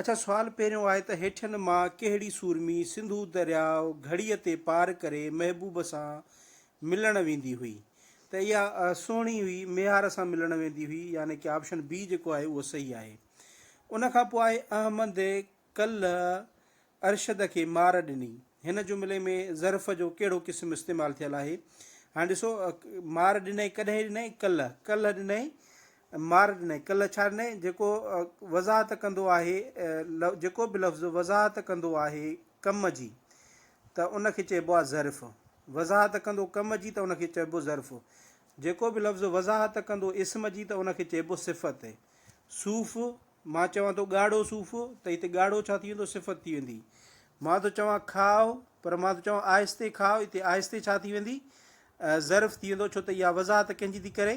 اڇا سوال پهريون آهي ته هيٺين مان ڪهڙي سورمي سنڌو درياء گهڙيء تي پار ڪري محبوب سان ملڻ ويندي هئي ته اها سهڻي هئي ميهار سان ملڻ ويندي هئي يعني ڪي آپشن بي جيڪو آهي اهو صحيح آهي ان کان پوء آهي احمد ڪلهه ارشد کي مار ڏني هن جملي ۾ ظرف جو ڪهڙو قسم استعمال ٿيل آهي هاڻي ڏسو مار ڏنئي ڪڏهن ڏنئي ڪلهه ڪلهه ڏنئي مارني، کل ڇارني، جيڪو وضاحت ڪندو آهي، جيڪو به لفظ وضاحت ڪندو آهي ڪم جي ته ان کي چئبو آهي ظرف، وضاحت ڪندو ڪم جي ته ان کي چئبو ظرف، جيڪو به لفظ وضاحت ڪندو اسم جي ته ان کي چئبو صفت. صوف، مان چوان ٿو ڳاڙهو صوف ته هتي ڳاڙهو ڇا ٿي ويندو صفت ٿي ويندي. مان ٿو چوان کاء پر مان ٿو چوان آهستي کاء هتي آهستي ڇا ٿي ويندي ظرف ٿي ويندو ڇو ته اها وضاحت ڪنهن جي ٿي ڪري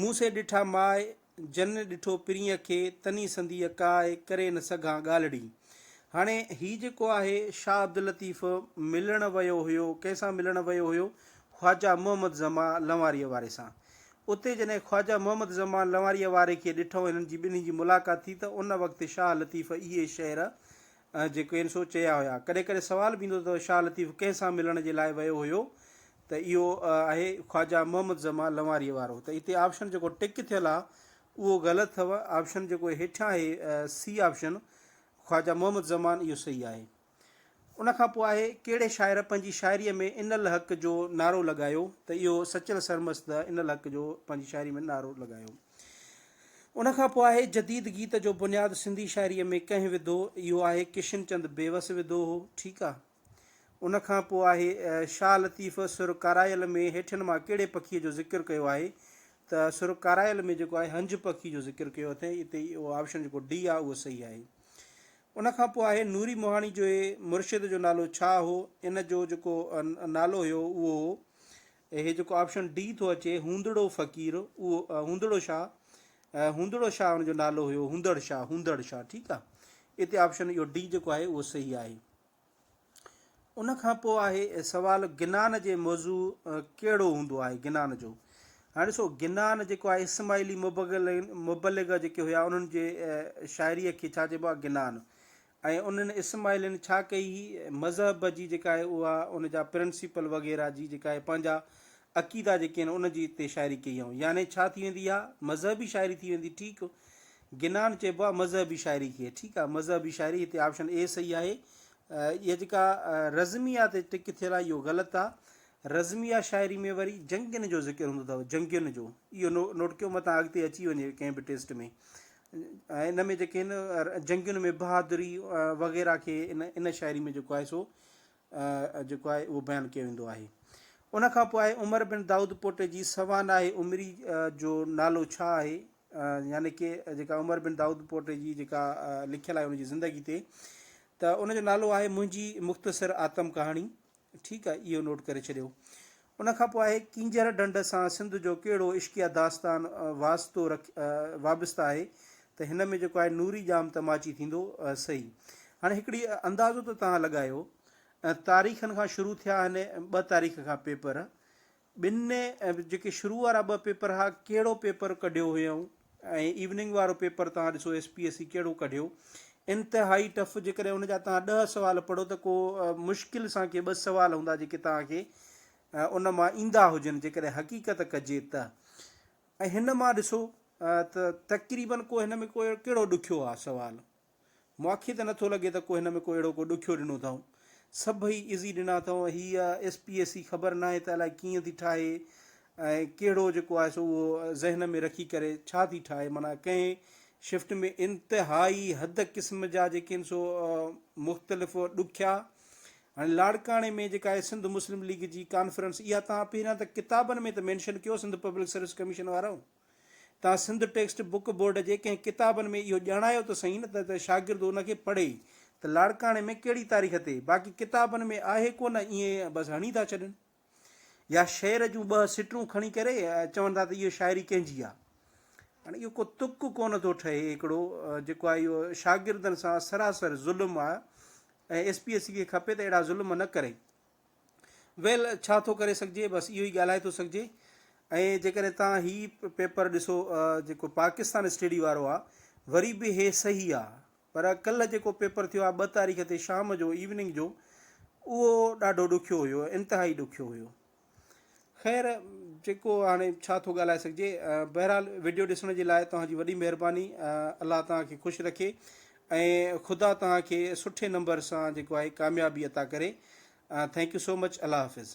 مون سي ڏٺا ماء، جن ڏٺو پرينء کي، تني سنديء ڪاء، ڪري نه سگهان ڳالهڙي. هاڻي هي جيڪو آهي شاهه عبداللطيف ملڻ ويو هيو، ڪنهن سان ملڻ ويو هيو؟ خواجه محمد زمان لنواريء واري سان. اتي جڏهن خواجه محمد زمان لنواريء واري کي ڏٺئون، هنن جي ٻنهي جي ملاقات ٿي ته ان وقت شاهه لطيف اهي شعر جي ڪين سو چيا هيا. ڪڏهن ڪڏهن سوال به ايندو ته شاهه لطيف ڪنهن سان ملڻ جي لاء ويو هيو ته اهو آهي خواجه محمد زمان لنواريء وارو ته هتي آپشن جيڪو ٽڪ ٿيل آ اهو غلط اٿو آپشن جيڪو هيٺيان آهي سي آپشن خواجه محمد زمان اهو صحيح آهي. ان کان پوء آهي ڪهڙي شاعر پنهنجي شاعريء ۾ ان الحق جو نعرو لڳايو ته اهو سچل سرمست ان الحق جو پنهنجي شاعريء ۾ نعرو لڳايو. ان کان پوء آهي جديد گيت جو بنياد سنڌي شاعريء ۾ ڪنهن وڌو، اهو آهي ڪشن چند بيوس وڌو هو، ٺيڪ آ. ان کان پوء آهي شاهه لطيف سر ڪارايل ۾ هيٺين مان ڪهڙي پکيء جو ذڪر ڪيو آهي ته سر ڪارايل ۾ جيڪو آهي هنج پکي جو ذڪر ڪيو اٿئين اتي اهو آپشن جيڪو ڊي آ اهو صحيح آهي. ان کان پوء آهي نوري موهاڻي جوهي مرشد جو نالو ڇا هو ان جو جيڪو نالو هيو اهو هو هي جيڪو آپشن ڊي ٿو اچي هوندڙو فقير اهو هوندڙو شاهه هوندڙو شاهه ان جو نالو هيو هوندڙ شاهه هوندڙ شاهه ٺيڪ آهي اتي آپشن اهو ڊي جيڪو آهي اهو صحيح آهي ان کان پوء آهي سوال گنان جي موضوع ڪهڙو هوندو آهي گنان جو هاڻي ڏسو گنان جيڪو آهي اسماعيلي مبغل مبلغ جيڪي هيا انهن جي شاعري کي ڇا چئبو آهي گنان ۽ انهن اسماعيلين ڇا ڪئي هئي مذهب جي جيڪا آهي اها ان جا پرنسپل وغيره جي جيڪا آهي پنهنجا عقيدا جيڪي آهن ان جي تي شاعري ڪئي هئائون يعني ڇا ٿي ويندي اها مذهبي شاعري ٿي ويندي ٺيڪ گنان چئبو آهي مذهبي شاعري کي ٺيڪ آهي مذهبي شاعري هتي آپشن اي صحيح آهي اها جيڪا رزميه تي ٽڪ ٿيل آهي اهو غلط آهي رزميه شاعري ۾ وري جنگين جو ذڪر هوندو اٿو جنگين جو اهو نوٽ ڪيو متان اڳتي اچي وڃي ڪنهن به ٽيسٽ ۾ ۽ ان ۾ جيڪي هن جنگين ۾ بهادري وغيره کي ان ان شاعري ۾ جيڪو آهي سو جيڪو آهي اهو بيان ڪيو ويندو آهي ان کان پوء آهي عمر بن دائود پوٽي جي سوانح عمري جو نالو ڇا آهي يعني ڪي جيڪا عمر بن دائود پوٽي جي جيڪا لکيل آهي ان جي زندگي تي ته ان جو نالو آهي منهنجي مختصر آتم ڪهاڻي ٺيڪ آهي اهو نوٽ ڪري ڇڏيو. ان کان پوء آهي ڪينجهر ڍنڍ سان سنڌ جو ڪهڙو عشقيه داستان واسطو رک وابسته آهي ته هن ۾ جيڪو آهي نوري ڄام ته ماچي ٿيندو سهي. هاڻي هڪڙي اندازو ته توهان لڳايو تاريخن کان شروع ٿيا هن ٻه تاريخ کان پيپر ٻن ۽ جيڪي شروع وارا ٻه پيپر ھئا ڪھڙو پيپر ڪڍيو ھيئون ۽ ايوننگ وارو پيپر توھان ڏسو ايس پي ايس سي ڪھڙو ڪڍيو انتھائي ٽف جيڪڏھن ان جا توھان ڏھ سوال پڙھو ته ڪو مشڪل سان ڪي ٻه سوال ھوندا جيڪي توھان کي ان مان ايندا ھجن جيڪڏھن حقيقت ڪجي ته ۽ ھن مان ڏسو ته تقريبن ڪو ھن ۾ ڪو ڪھڙو ڏکيو آ سوال. ماکي ته نٿو لڳي ته ڪو هن ۾ ڪو اهڙو ڪو ڏکيو ڏنو اٿائون. سڀئي ايزي ڏنا اٿائون. هيء ايس پي ايس سي خبر ناهي ته الائي ڪيئن ٿي ٺاهي ۽ ڪهڙو جيڪو آهي سو اهو ذهن ۾ رکي ڪري ڇا ٿي ٺاهي معنيٰ ڪنهن شفٽ ۾ انتهائي حد قسم جا جيڪي آهن سو مختلف ڏکيا هاڻي لاڙڪاڻي ۾ جيڪا آهي سنڌ مسلم ليگ جي ڪانفرنس اها تان پهريان ته ڪتابن ۾ ته مينشن ڪيو سنڌ پبلڪ سروس ڪميشن وارو توهان سنڌ ٽيڪسٽ بوڪ بورڊ جي ڪنهن ڪتابن ۾ اهو ڄاڻايو ته سهي نه ته شاگرد ان کي پڙهي ته لاڙڪاڻي ۾ ڪهڙي تاريخ تي باقي ڪتابن ۾ آهي ڪو نه ائين بس هڻي ٿا ڇڏين يا شعر جون ٻه سٽرون کڻي ڪري چون ٿا ته اهو شاعري ڪنهن جي آهي هاڻي اهو ڪو تڪ ڪونه ٿو ٺهي هڪڙو جيڪو آهي اهو شاگردن سان سراسر ظلم آهي ۽ ايس پي ايس سی کي کپي ته اهڙا ظلم نه ڪري ويل ڇا ٿو ڪري سگهجي بس اهو ئي ڳالهائي ٿو سگهجي ۽ جيڪڏهن توهان هي پيپر ڏسو جيڪو پاڪستان اسٽيڊي وارو آهي وري به هي صحيح آهي پر ڪلهه جيڪو پيپر ٿيو آهي ٻه تاريخ تي شام جو ايوننگ جو اهو ڏاڍو ڏکيو هيو انتهائي ڏکيو هيو خير جيڪو هاڻي ڇا ٿو ڳالهائي سگهجي بهرحال وڊيو ڏسڻ جي لاء توهان جي وڏي مهرباني الله توهان کي خوش رکي ۽ خدا توهان کي سٺي نمبر سان جيڪو آهي ڪاميابي عطا ڪري ٿينڪ يو سو مچ الله حافظ